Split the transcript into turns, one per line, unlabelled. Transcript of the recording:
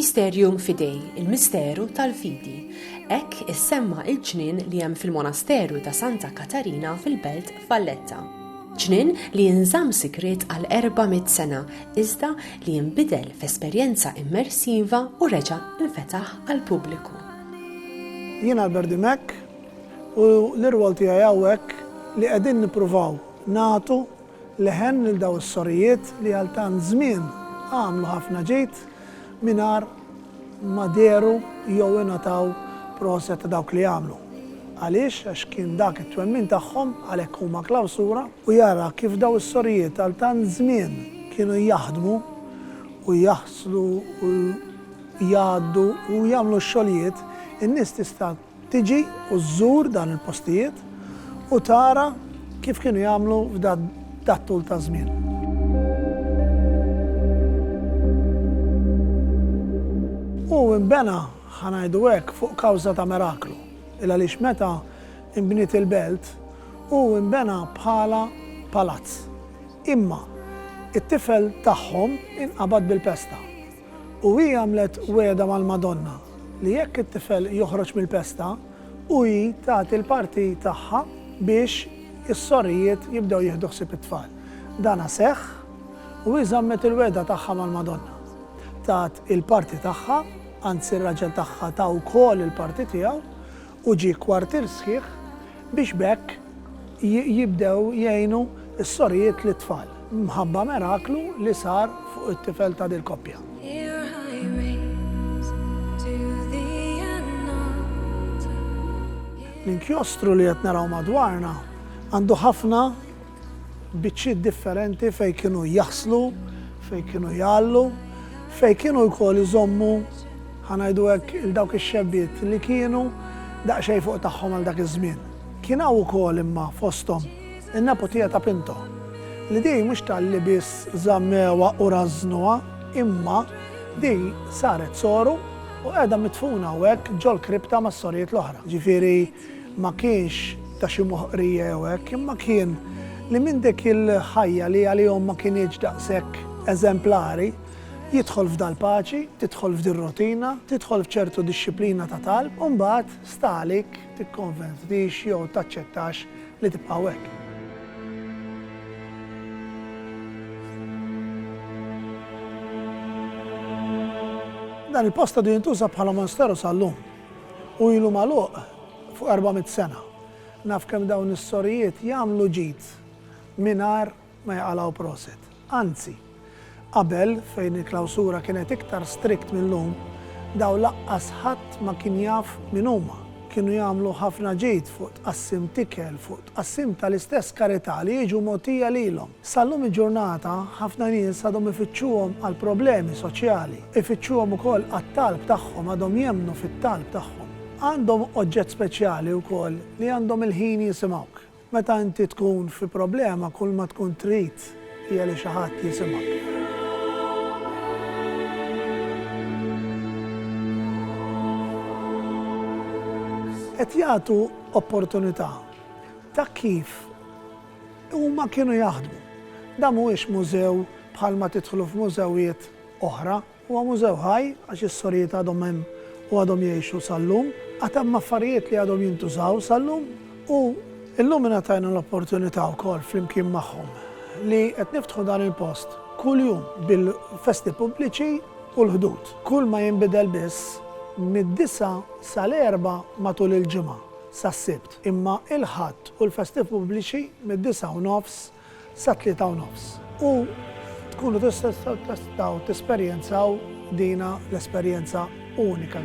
Mysterium Fidei, il-misteru tal-fidi. Hekk issemma il-ġnien li hemm fil-monasteru ta' Santa Katarina fil-belt Valletta. Ġnien li jinżamm sigriet għal 400 sena iżda li jinbidel f'esperjenza immersiva u reġa' infetaħ għall-pubbliku. Jien Albert Dimech, U l-irwol tiegħi hawnhekk li qegħdin nippruvaw nagħtu leħen lil dawn is-sorijiet li għal tant żmien għamlu ħafna ġid mingħajr ma dehru jew ingħataw proset ta' dawk li għamlu. Għaliex? Għax kien dak it-twemmin tagħhom għalhekk huma klawsura u jara kif dawn is-sorijiet għal tant żmien kienu jaħdmu u jaħslu u jgħaddu u jagħmlu x-xogħlijiet, in-nies tista' Tiġi u żżur dan il-postijiet u tara kif kienu jagħmlu f'dat-tul ta' żmien. Hu nbena, ħa ngħidu hekk, fuq kawża ta' miraklu, il-għaliex meta nbniet il-belt, hu nbena bħala palazz. Imma, it-tifel tagħhom inqabad bil-pesta. U hi għamlet wegħda mal-Madonna li jekk it-tifel joħroġ mill-pesta, u hi tagħti l-parti tagħha biex is-sorijiet jibdew jieħdu ħsieb it-tfal. Dana seħħ u hi żammet il-wegħda tagħha mal-Madonna. Tat il-parti tagħha, anzi r-raġel tagħha ta wkoll il-parti tiegħu, u ġie kwartier sħiħ biex b'hekk jibdew jgħinu s-sorijiet lit-tfal, mħabba meraklu li sar fuq it-tifel ta' dil-koppja. L-inkjostru li qed naraw madwarna għandu ħafna biċċiet differenti fejn kienu jaħslu, fejn kienu jgħallu, fejn kienu wkoll iżommu ħa ngħidu hekk il dawk ix-xebbiet li kienu daqsxejn fuq tagħhom għal dak iż-żmien. Kien hawn ukoll imma fosthom in-neputija ta' Pinto li din mhux talli biss żammewha u rażżnuha imma din saret soru u qiegħda midfuna hawnhekk ġol-kripta mas-sorijiet l-oħra. Ġifieri Ma kienx ta' xi moħqrija jew hekk, imma kien li minn dik il-ħajja li għalihom ma kinitx daqshekk eżemplari, jidħol f'dal-paċi, tidħol f'dir-rotina, tidħol f'ċertu dixxiplina ta' talb u mbagħad sta għalik tikkonvertix jew taċċettax li tibqgħu hekk. Dan il-post għadu jintuża bħala monsteru sal-lum. Hu ilu magħluq fuq erba' mitt sena. Naf kemm dawn is-sorijiet jagħmlu ġid mingħajr ma jaqalgħu prosit. Anzi, qabel, fejn il-klawsura kienet iktar strict mil-lum, dawn laqqas ħadd ma kien jaf min huma. Kienu jagħmlu ħafna ġid fuq tqassim t'ikel, fuq tqassim tal-istess karità li jiġu mogħtija lilhom. Sal-lum il-ġurnata, ħafna nies għadhom ifittxuhom għal problemi soċjali, ifittxuhom ukoll għat-talb tagħhom, għadhom jemmnu fit-talb tagħhom. Għandhom oġġett speċjali wkoll li għandhom il-ħin jisimgħuk. Meta inti tkun fi problema, kulma tkun trid hija li xi ħadd jisimgħek. Qed jagħtu opportunità ta' kif Huma kienu jaħdmu. Dan mhuwiex mużew bħalma tidħlu f'mużewijiet oħra. Huwa mużew ħaj għax is-sorijiet għadhom hemm u għadhom jgħixu sal-lum. Għad hemm affarijiet li għadhom jintużaw sal-lum u llum ingħatajna l-opportunità wkoll flimkien magħhom li qed niftħu dan il-post kuljum bil-festi pubbliċi u l-ħdud. Kull ma jinbidel biss mid-disgħa sal-erbgħa matul il-ġimgħa, sas-Sibt. Imma il-Ħadd hu l-festi pubbliċi mid-disgħa u nofs sat-tlieta u nofs. U tkunu tistgħu tesperjenzaw dina l-esperjenza unika.